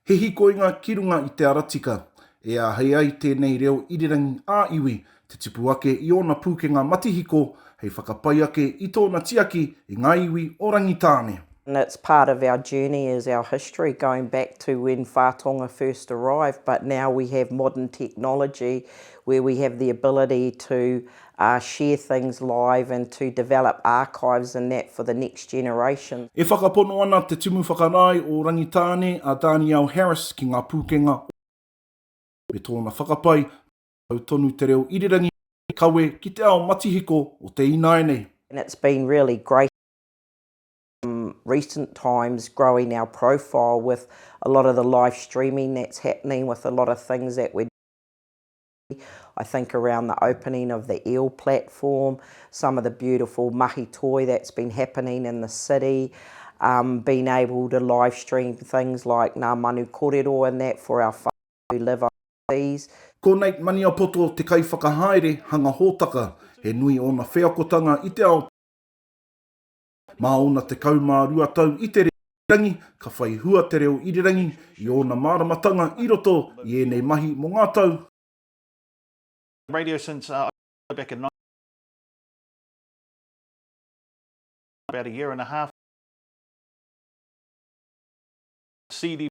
He hikoinga ki runga i te ara tika, e āhei ai tēnei reo irirangi ā-iwi te tipu ake i ōna pūkenga matihiko hei whakapai ake i tōna tiaki i ngā iwi o Rangitāne. And it's part of our journey is our history going back to when Whātonga first arrived but now we have modern technology where we have the ability to a share things live and to develop archives and that for the next generation. E whakapono ana Te Tumu Whakarae o Rangitāne a Danielle Harris ki ngā pūkenga o Aotearoa me tōna whakapae kia mau tonu te reo irirangi hei kawe ki te ao matihiko o te ināianei. And it's been really great in recent times growing our profile with a lot of the live streaming that's happening with a lot of things that we're doing. I think around the opening of the eel platform, some of the beautiful mahi toi that's been happening in the city, um, being able to live stream things like Ngā Manu Korero and that for our whānau who live overseas. Ko Nate Maniapoto te kaiwhakahaere hanga hōtaka, he nui ōna wheakotanga i te ao. Mā ōna tekau mā rua tau i te reo irirangi, ka whai hua te reo irirangi i ōna māramatanga i roto i ēnei mahi mō ngā tau